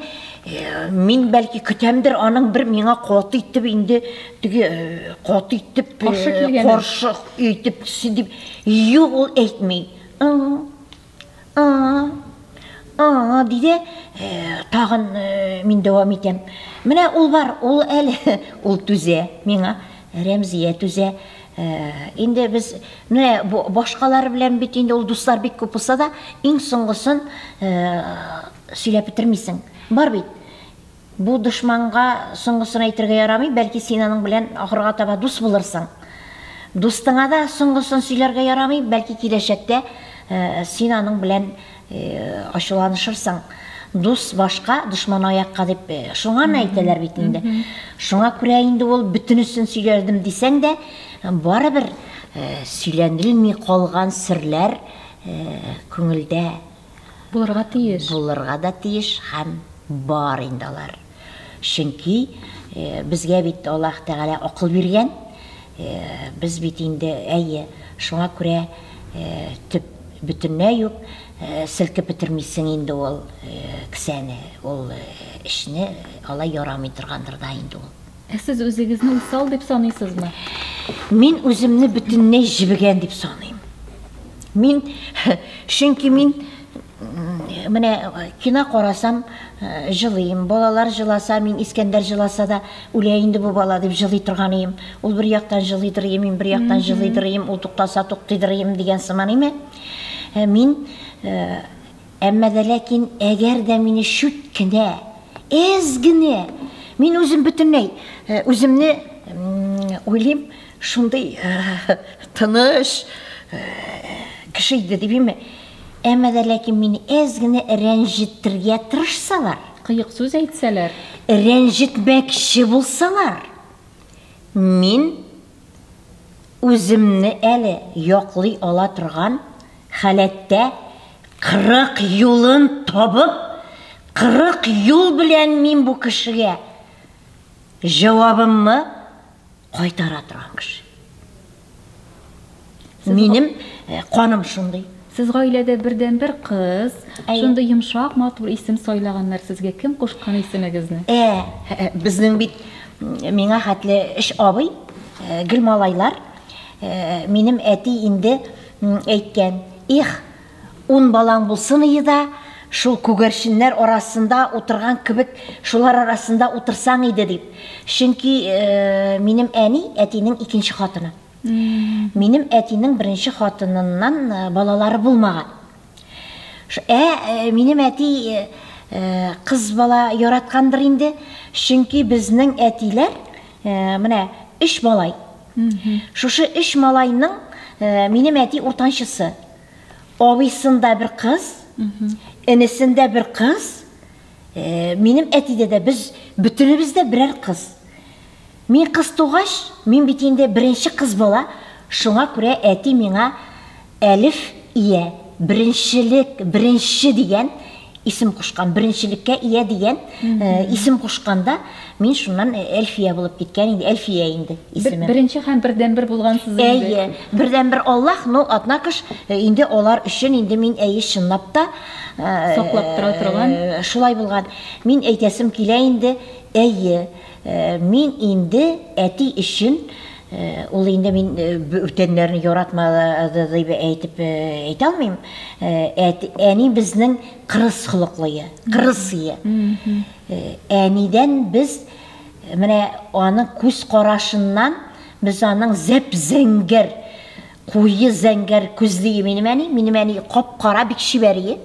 э, мин бәлки көтәмдер аның бер миңа каты итеп инде теге каты итеп каршы килгән. Каршы итеп дип юк ул әйтми. А-а-а, диде, тагын мин дәвам итәм. Менә ул бар, ул әле, ул түзә миңа, Рәмзия түзә. Инде без менә башкалар белән бит инде ул дуслар бик күп булса да, иң соңгысын сөйләп бетермисең. Бар бит. Бу дошманга соңгысын әйтергә ярамый, бәлки син аның белән ахырга таба дус булырсың. Дустыңа да соңгысын сөйләргә ярамый, бәлки киләчәктә син аның белән ачуланышырсың. Дус башка, дошман аякка дип шуңаны әйтәләр бит инде. Шуңа күрә инде ул бөтенесен сөйләдем дисәң дә, барыбер сөйләнелми калган серләр күңелдә Булырга тиеш. Булырга да тиеш һәм бар инде алар. Чөнки безгә бит Аллаһ Тәгалә акыл биргән. Без бит инде, әйе, шуңа күрә төп бөтенләй үк селкеп бетермисең инде ул кесәне, ул эшне алай ярамый торгандыр да инде ул. Ә сез үзегезне усал дип саныйсызмы? Мин үземне бөтенләй җебегән дип саныйм. Мин, чөнки мин менә кино карасам, э, җылыйм. Балалар җыласа, мин Искәндәр җыласа да, үлә инде бу бала дип җылый торган идем. Ул бер яктан җылыйдыр идем, мин бер яктан җылыйдыр идем, ул туктаса туктыйдыр идем дигән сыман име. Э, мин э, Әмма дә ләкин әгәр дә мине чүт кенә, әз генә, мин үзем бөтенләй үземне уйлыйм, шундый тыныч кеше иде дип име, әмма дә ләкин мине әз генә рәнҗеттергә тырышсалар. Кыек сүз әйтсәләр. Рәнҗетмәкче булсалар, мин. Үземне әле яклый ала торган халәттә кырык юлын табып, кырык юл белән мин бу кешегә җавабымны кайтара торган кеше. Минем э, каным шундый. Сез гаиләдә бердән бер кыз. Әй. Шундый йомшак, матур исем сайлаганнар сезгә. Кем кушкан исемегезне? Ә, э, безнең бит м, миңа хәтле эш абый, э, гел малайлар. Э, Минем әти инде м, әйткән, их, ун балаң булсын иде да, шул күгәрченнәр арасында утырган кебек, шулар арасында утырсаң иде дип. Чөнки э, минем әни әтинең икенче хатыны. Минем әтинең беренче хатыныннан э, балалары булмаган. Ә э, минем әти э, кыз бала яраткандыр инде, чөнки безнең әтиләр менә өч малай. Шушы өч малайның минем әти уртанчысы. Абыйсында бер кыз, инесендә бер кыз, минем әтидә дә без бөтенебез дә берәр кыз. Мин кыз тугач, мин бит инде беренче кыз бала, шуңа күрә әти миңа Әлиф ия, беренчелек, беренче дигән исем кушкан, беренчелеккә ия дигән исем кушкан да, мин шуннан Әлфия булып киткән инде, Әлфия инде исемем. Беренче һәм бердәнбер булгансыз инде. Әйе, бердәнбер Аллаһ, но однако ж, инде алар өчен инде мин, әйе, чынлап та, Саклап тора торган. Шулай булган. Мин әйтәсем килә инде, әйе. Мин инде әти өчен, ул инде мин бүтәннәрне яратмады дип әйтеп әйтә алмыйм, әни безнең кырыс холыклые, кырысые. Әнидән без менә аның күз карашыннан без аның зәп-зәңгәр, Куе зәңгәр күзлие минем әни, минем әни кап-кара бик чибәрие.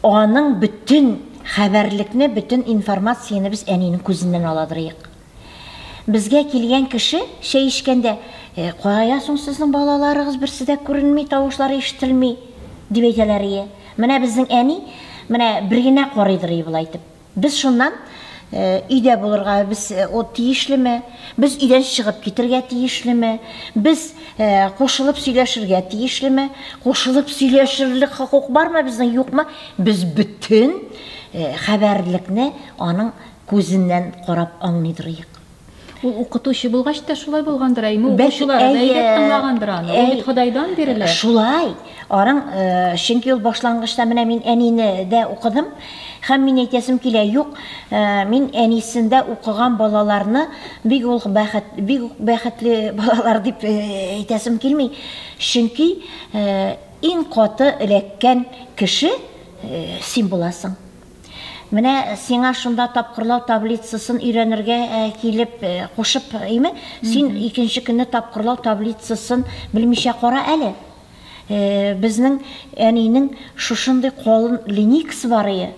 Аның бөтен хәбәрлекне, бөтен информацияне без әнинең күзеннән аладырыйк. Безгә килгән кеше чәй эчкәндә, «Э, кая соң сезнең балаларыгыз берсе дә күренми, тавышлары ишетелми, дип әйтәләрие. Менә безнең әни менә бер генә карыйдырые болай итеп. Без шуннан, өйдә булырга без ут тиешлеме, без өйдән чыгып китергә тиешлеме, без кушылып сөйләшергә тиешлеме, кушылып сөйләшерлек хокук бармы безнең, юкмы? Без бөтен хәбәрлекне аның күзеннән карап аңлый торыйк. Ул укытучы булгач та шулай булгандыр, әйме, укучылары да әйдәп тыңлагандыр аны. Ул бит Ходайдан бирелә. Шулай. Арың, чөнки ул башлангычта менә мин әнине дә укыдым, һәм мин әйтәсем килә, юк, мин әнисендә укыган балаларны бик үк бәхет, бик үк бәхетле балалар дип әйтәсем килми, чөнки иң каты эләккән кеше син буласың. Менә сиңа шунда тапкырлау таблицасын өйрәнергә килеп кушып име? Син икенче көнне тапкырлау таблицасын белмичә кара әле. Безнең әнинең шушындый колын линейкасы бар ие.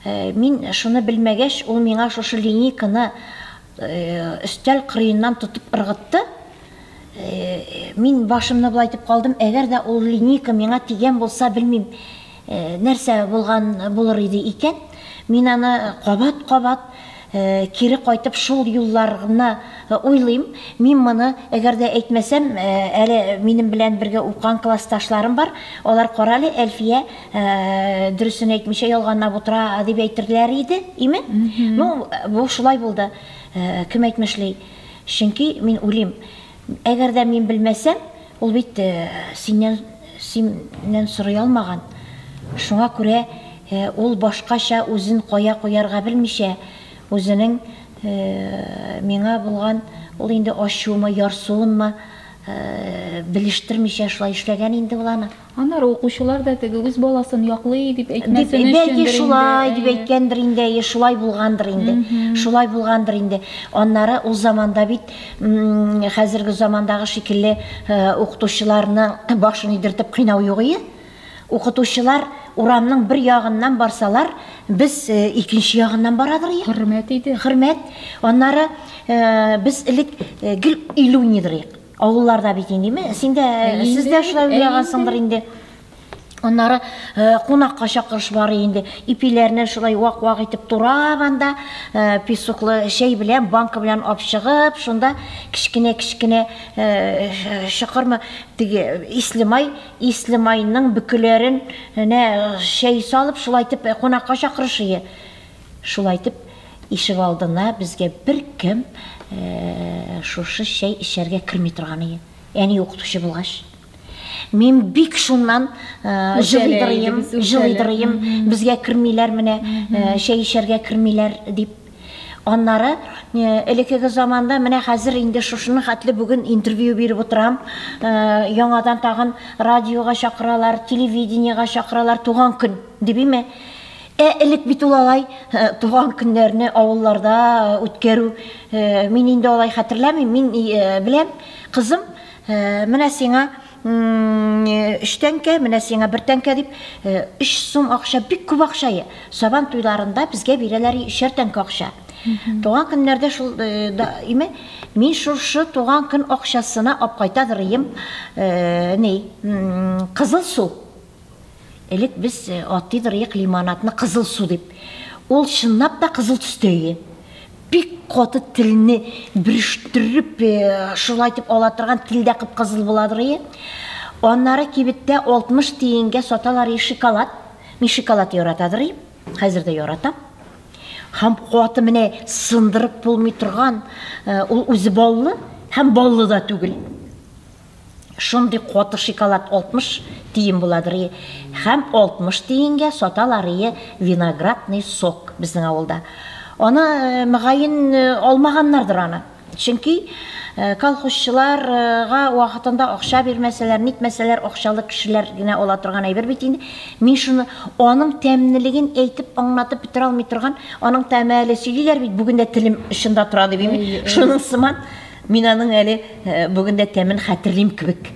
Мин шуны белмәгәч, ул миңа шушы линейканы өстәл кырыеннан тотып ыргытты. Мин башымны болайтып калдым, әгәр дә ул линейка миңа тигән булса, белмим, Нәрсә булган булыр иде икән? Мин аны кабат-кабат кире кайтып шул юлларны уйлыйм. Мин моны әгәр дә әйтмәсәм, әле минем белән бергә укыган классташларым бар, алар карале, Әлфия дөресен әйтмичә ялганлап утыра дип әйтерләр иде, име? Ну, бу шулай булды, кем әйтмешли. Чөнки мин уйлыйм. Әгәр дә мин белмәсәм, ул бит синнән, синнән сорый алмаган. Шуңа күрә ул башкача үзен кая куярга белмичә, үзенең миңа булган ул инде ачуымы, ярсуынмы белештермичә шулай эшләгән инде ул аны. Аннары укучылар да теге үз баласын яклый дип әйтмәсен өчендер инде. Бәлки шулай дип әйткәндер инде, әйе, шулай булгандыр инде. Шулай булгандыр инде. Аннары ул заманда бит хәзерге замандагы шикелле укытучыларның башын өйдертеп кыйнау юк ие. Укытучылар урамның бер ягыннан барсалар, без икенче ягыннан барадыр ие. Хөрмәт иде. Хөрмәт. Аннары без элек гел илү нидырыйк. Авылларда бит инде, ме- син дә, Ә инде, сез дә шулай ә уйлагансыңдыр инде. Аннары э, кунакка чакырыш бар инде. Ипиләрне шулай вак-вак итеп турап анда э, песоклы чәй белән, банка белән алып чыгып, шунда кечкенә-кечкенә э, ш- шыкырмы теге исле май, исле майның бөкеләрен нә чәй салып, шулай итеп э, кунакка чакырыш ие. Шулай итеп, ишегалдына безгә беркем шушы чәй эчәргә керми торган иде. Әни укытучы булгач, мин бик шуннан җылыйдырыйм, җылыйдырыйм, безгә кермиләр менә, чәй эчәргә кермиләр дип. Аннары элекеге заманда менә хәзер инде шушыны хәтле бүген интервью биреп утырам. Яңадан тагын радиога чакыралар, телевидениега чакыралар, туган көн дибиме? Ә элек бит ул алай туган көннәрне авылларда үткәрү, мин инде алай хәтерләмим, мин беләм, кызым, менә сиңа өч тәңкә, менә сиңа бер тәңкә дип, өч сум акча, бик күп акча, сабан туйларында безгә бирәләр өчәр тәңкә акча. Туган көннәрдә шул име, мин шушы туган көн акчасына апкайта дырыем, ни, кызыл су. Элек без э, атый дырыек лимонадны кызыл су дип. Ул чынлап та кызыл төстә иде. Бик каты телне бөрештереп, э, шулай дип ала торган телдә кып-кызыл була дырые. Аннары кибеттә 60 тиенгә саталар и шоколад. Мин шоколад ярата дырыйм. Хәзер дә яратам. Һәм каты менә сындырып булмый торган, э, ул үзе баллы һәм баллы да түгел. шундый каты шикалат 60 тиен буладыр и һәм 60 тиенгә саталар и виноградный сок безнең авылда аны э, мөгаен э, алмаганнардыр аны чөнки э, колхозчыларга вакытында акча бирмәсәләр нитмәсәләр акчалы кешеләр генә ала торган әйбер бит инде мин шуны аның тәмнелеген әйтеп аңлатып бетерә алмый торган аның тәме әле сөйлиләр бит бүген дә телем очында тора дип шуның сыман Мин аның әле бүген дә тәмен хәтерлим кебек.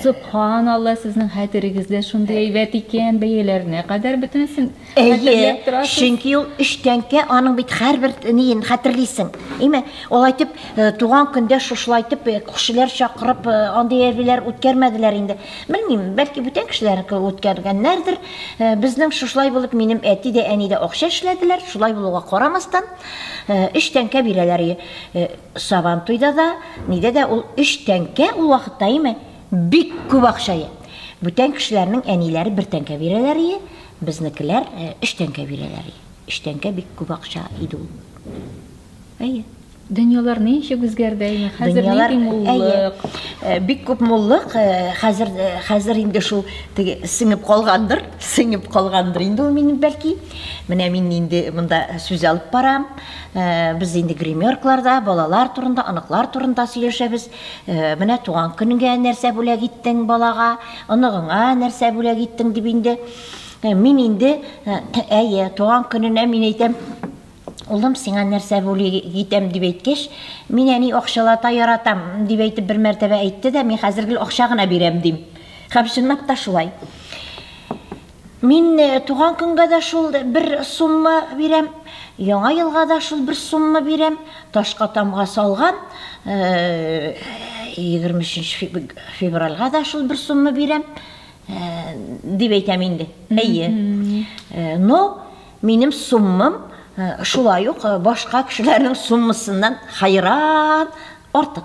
Сөбханалла, сезнең хәтерегез дә шундый әйбәт икән, бәяләренә кадәр бөтенесен хәтерләп торасыз. Әйе, чөнки ул өч тәңкә, аның бит һәрбер ниен хәтерлисең. Әйме, алай итеп, туган көндә шушылай итеп күршеләр чакырып, андый әйберләр үткәрмәделәр инде. Белмим, бәлки бүтән кешеләрнеке үткәргәннәрдер. Безнең шушылай булып, минем әти дә, әни дә акча эшләделәр, шулай булуга карамастан, өч тәңкә бирәләр. Сабантуйда да, нидә дә ул өч тәңкә ул вакытта име? Бик күп акчае. Бүтән кешеләрнең әниләре бер тәңкә бирәләр ие, безнекеләр өч тәңкә бирәләр ие. Өч тәңкә бик күп акча иде ул. Әйе. Дөньялар ничек үзгәрде, әйе, хәзер нинди муллык? Бик күп муллык, хәзер хәзер инде шул теге сеңеп калгандыр, сеңеп калгандыр инде ул минем бәлки. Менә мин инде монда сүз алып барам. Э, без инде гримеркларда балалар турында оныклар турында сөйләшәбез э, менә туган көнгә нәрсә бүләк иттең балага оныгыңа нәрсә бүләк иттең дип инде э, мин инде әйе туган көненә мин әйтәм улым сиңа нәрсә бүләк итәм дип әйткәч мин әни акчалата яратам дип әйтеп бер мәртәбә әйтте дә мин хәзер гел акча гына бирәм дим һәм чынлап та шулай Мин туган көнгә дә шул бер сумма бирәм, яңа елга да шул бер сумма бирәм. Ташка тамга салган, 23 февральга да шул бер сумма бирәм, дип әйтәм инде. Әйе. Но минем суммам шулай ук башка кешеләрнең суммасыннан хайран артык.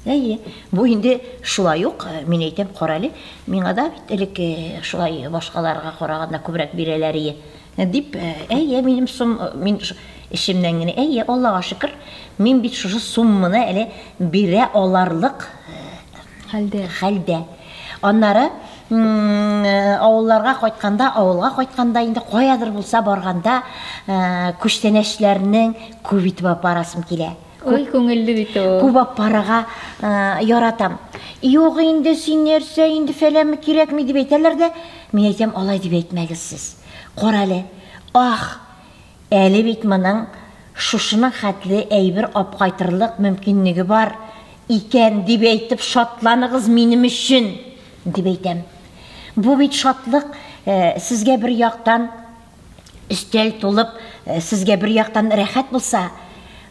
Әйе, бу инде шулай ук, э, мин әйтәм, карале, миңа да бит элек э, шулай башкаларга караганда күбрәк бирәләрие, дип, э, әйе, минем сум, э, мин эчемнән генә, әйе, Аллага шөкер, мин бит шушы сумманы әле бирә аларлык хәлдә. хәлдә. Аннары авылларга кайтканда, авылга кайтканда инде каядыр булса барганда, күчтәнәчләрнең күп итеп апарасым килә. Ой, күңелле бит ул. Күп ап парага яратам. Юк инде син нәрсә инде фәләме кирәкми дип әйтәләр дә, мин әйтәм алай дип әйтмәгез сез. Кара әле. Ах, әле бит моның шушының хәтле әйбер ап кайтырлык мөмкинлеге бар икән дип әйтеп шатланыгыз минем өчен дип әйтәм. Бу бит шатлык э, сезгә бер яктан Өстәл тулып, сезгә бер яктан рәхәт булса,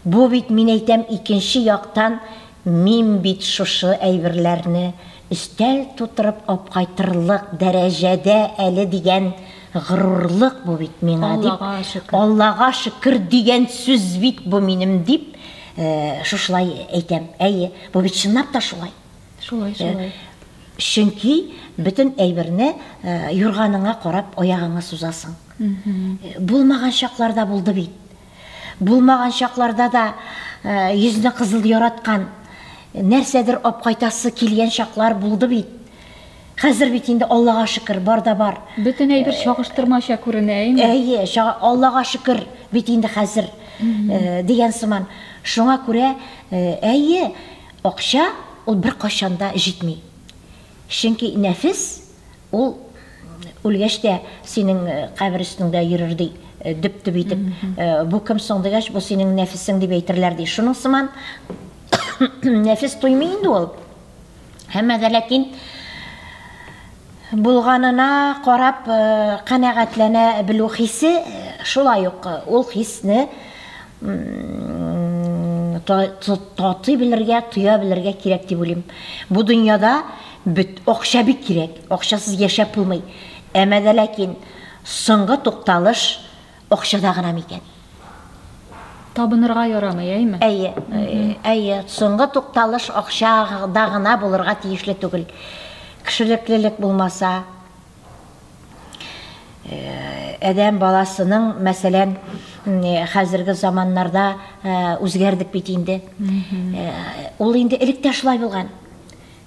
бу бит, мин әйтәм, икенче яктан, мин бит шушы әйберләрне өстәл тутырып апкайтырлык дәрәҗәдә әле дигән горурлык бу бит миңа дип, Аллага шөкер дигән сүз бит бу минем дип, шушылай әйтәм. Әйе, бу бит чынлап та шулай. Шулай, э, шулай. Чөнки бөтен әйберне э, юрганыңа карап аягыңа сузасың. Э, булмаган чакларда булды бит. Булмаган чакларда да йөзне кызыл яраткан нәрсәдер апкайтасы килгән чаклар булды бит. Хәзер бит инде Аллага шөкер, бар да бар. Бөтен әйбер чагыштырмача күренә, әйме? Әйе, Аллага шөкер, бит инде хәзер дигән сыман. Шуңа күрә әйе, Акча ул беркайчан да җитми. Чөнки нәфес ул үлгәч тә синең кабер өстеңдә йөрер, ди, дөп-дөп итеп. Бу кем соң дигәч, бу синең нәфесең дип әйтерләр, ди. Шуның сыман нәфес туймый инде ул. Әмма дә ләкин булганына карап канәгатьләнә белү хисе шулай ук ул хисне Татый белергә, тоя белергә кирәк дип уйлыйм. Бу дөньяда бөт акча бик кирәк. Акчасыз яшәп булмый. Әмма дә ләкин соңгы тукталыш акчада гына микән? Табынырга ярамый, әйме? Әйе, әйе, соңгы тукталыш акчада гына булырга тиешле түгел. Кешелеклелек булмаса. Адәм баласының, мәсәлән, хәзерге заманнарда үзгәрдек бит инде. Ул инде элек тә шулай булган.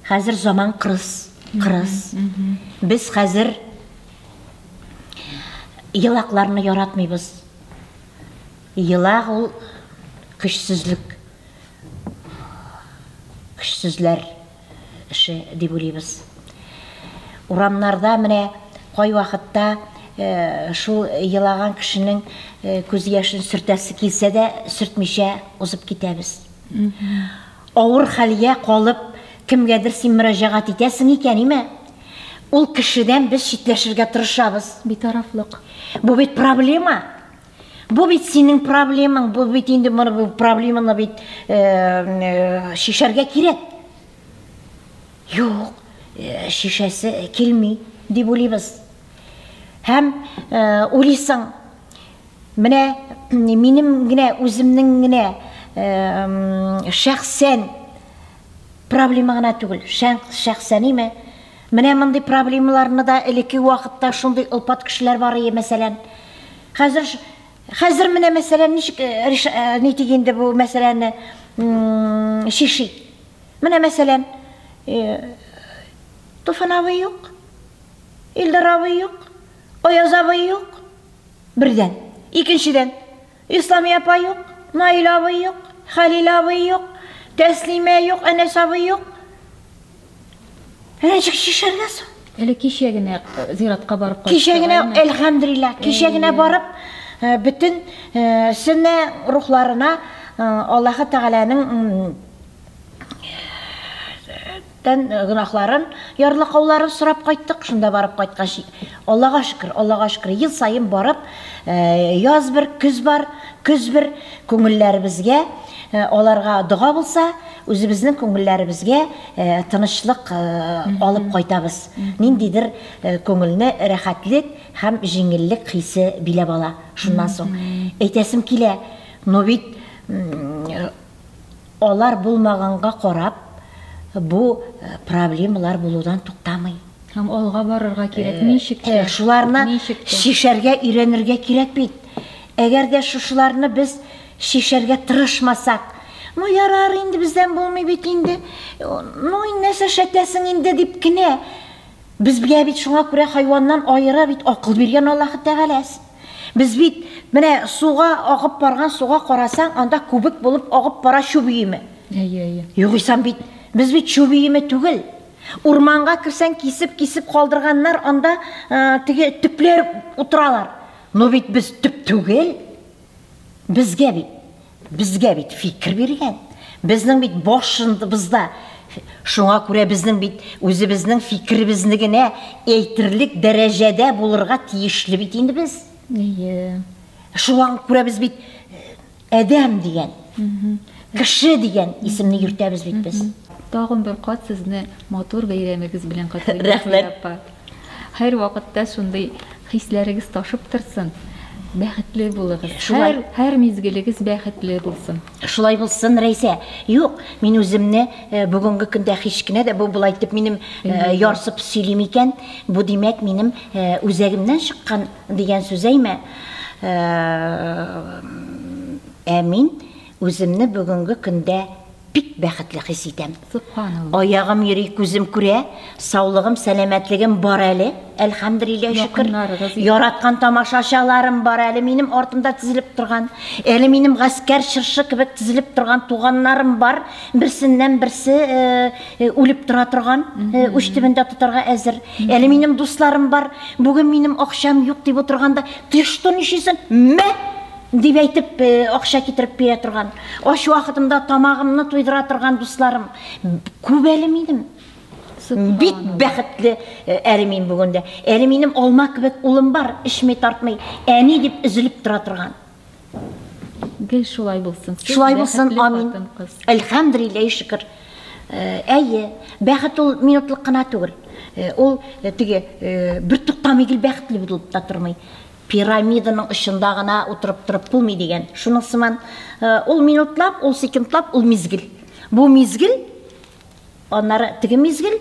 Хәзер заман кырыс, кырыс. Без хәзер елакларны яратмыйбыз. Елак ул көчсезлек, көчсезләр. эше дип уйлыйбыз. Урамнарда менә кайвакытта шул елаган кешенең күз яшен сөртәсе килсә дә, сөртмичә узып китәбез. Авыр хәлгә калып, кемгәдер син мөрәҗәгать итәсең икән, име, ул кешедән без читләшергә тырышабыз. Битарафлык. Бу бит проблема. Бу бит синең проблемаң, бу бит инде моны бу проблеманы бит э, э, шешәргә кирәк. Юк, э, шешәсе килми дип уйлыйбыз. Һәм уйлыйсың, менә минем генә үземнең генә шәхсән проблема гына түгел, шәхсән име? Менә мондый проблемаларны да элекке вакытта шундый олпат кешеләр бар ие, мәсәлән. Хәзер хәзер менә мәсәлән ничек э, э, нитик инде бу мәсьәләне чишик. Менә мәсәлән, э, Туфан абый юк, Илдар абый юк, Аяз абый юк. Бердән. Икенчедән, Исламия апа юк, Наил абый юк, Хәлил абый юк, Тәслимә юк, Әнәс абый юк. Әнә ничек чишәргә соң? Әле кичә генә э, зиратка барып кайттык. Кичә генә, әлхәмдулилла, кичә генә барып, э, бөтен э, сөннә рухларына Аллаһы Тәгаләнең Тән гөнаһларын, ярлыкауларын сорап кайттык, шунда барып кайткач, Аллага шөкер, Аллага шөкер, ел саен барып, яз бер, көз бар, көз бер, күңелләребезгә аларга дога булса, үзебезнең күңелләребезгә тынычлык алып кайтабыз. Ниндидер күңелне рәхәтлек һәм җиңеллек хисе биләп ала. Шуннан соң әйтәсем килә, ну бит, Алар булмаганга карап, бу проблемалар булудан туктамый. Һәм алга барырга кирәк. Ничек тә. Ә, шуларны Ничек тә. чишәргә өйрәнергә кирәк бит. Әгәр дә шушыларны без чишәргә тырышмасак, Ну, ярар инде, бездән булмый бит инде. Ну, инде нәрсә шәтәсең инде дип кенә. Безгә бит шуңа күрә хайваннан аера бит акыл биргән Аллаһы Тәгаләс. Без бит менә суга агып барган суга карасаң, анда күбек булып агып бара чү биеме. Әйе, әйе. Югыйсам бит без бит чү биеме түгел. Урманга кирсәң кисеп-кисеп калдырганнар, анда теге төпләр утыралар. Но бит без төп түгел. Безгә бит Безгә бит фикер биргән. Безнең бит башыбызда. Шуңа күрә безнең бит үзебезнең фикеребезне генә әйтерлек дәрәҗәдә булырга тиешле бит инде без. Әйе. Шуңа күрә без бит әдәм дигән, кеше дигән исемне йөртәбез бит без. Тагын бер кат сезне матур бәйрәмегез белән котлыйм. Рәхмәт. Хәер вакытта шундый хисләрегез ташып торсын, бәхетле булыгыз, шулай, һәр мизгелегез бәхетле булсын. Шулай булсын, Рәйсә. Юк, мин үземне бүгенге көндә һич кенә дә бу болай итеп минем ярсып сөйлим икән, бу димәк минем үзәгемнән чыккан дигән сүз әйме? Ә мин Үземне бүгенге көндә бик бәхетле хис итәм. Субханалла. Аягым йөри, күзем күрә, саулыгым, сәламәтлегем бар әле, әлхәмдүлилләһ шөкер. Якыннарыгыз. Яраткан тамашачыларым бар әле минем артымда тезелеп торган. Әле минем гаскәр чыршы кебек тезелеп торган туганнарым бар, берсеннән-берсе э, үлеп тора торган, э, уч төбендә тотарга әзер. Әле минем дусларым бар, бүген минем акчам юк дип утырганда, теш тон ишисен, мә! Дип әйтеп, акча китереп бирә торган, ач вакытымда тамагымны туйдыра торган дусларым күп әле минем. Бик бәхетле әле мин бүгендә. Әле минем алма кебек улым бар, эчми тартмый, әни дип өзелеп тора торган. Гел шулай булсын. Шулай булсын, амин. Әлхәмдулилләһи шөкер. Әйе, бәхет ул минутлык кына түгел. Ул теге бер туктамый гел бәхетле булып та тормый. Пирамиданың очында гына утырып торып булмый дигән шуның сыман. Ул минутлап, ул секундлап, ул мизгел. Бу мизгел, аннары теге мизгел,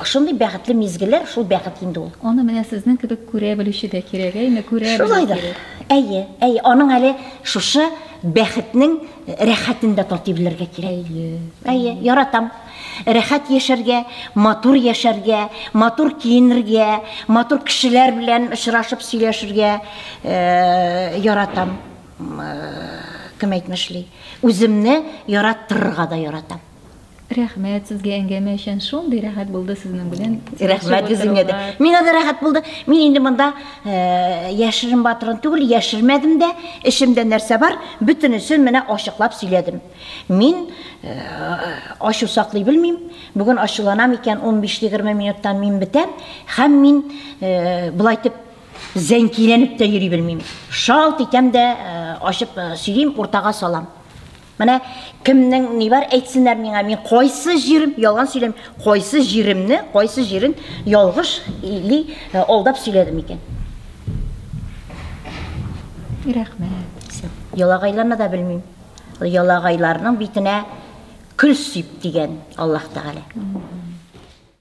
шундый бәхетле мизгелләр, шул бәхет инде ул. Аны менә сезнең кебек күрә белүче дә кирәк, әйме, күрә белү кирәк. Әйе, әйе, аның әле шушы бәхетнең рәхәтен дә татый белергә кирәк. Әйе. Әйе, яратам. Рәхәт яшәргә, матур яшәргә, матур киенергә, матур кешеләр белән очрашып сөйләшергә яратам. Кем әйтмешли, үземне яраттырырга да яратам. Рәхмәт сезгә әңгәмә өчен. Шундый рәхәт булды сезнең белән. Рәхмәт үзеңә дә. Миңа да рәхәт булды. Мин инде монда э, яшерен батырын түгел, яшермәдем дә. Эчемдә нәрсә бар, бөтенесен менә ачыклап сөйләдем. Мин ачу саклый белмим. Бүген ачуланам икән, 15-20 минуттан мин бетәм һәм мин болай итеп зәнкиләнеп тә йөри белмим. Шалт итәм дә ачып сөйлим, уртага салам. Менә кемнең ни бар әйтсеннәр миңа, мин кайсы җирем ялган сөйләм, кайсы җиремне, кайсы җирен ялгыш или алдап сөйләдем икән. Рәхмәт. Ялагайларны да белмим. Ялагайларның битенә көл сип, дигән Аллаһ Тәгалә.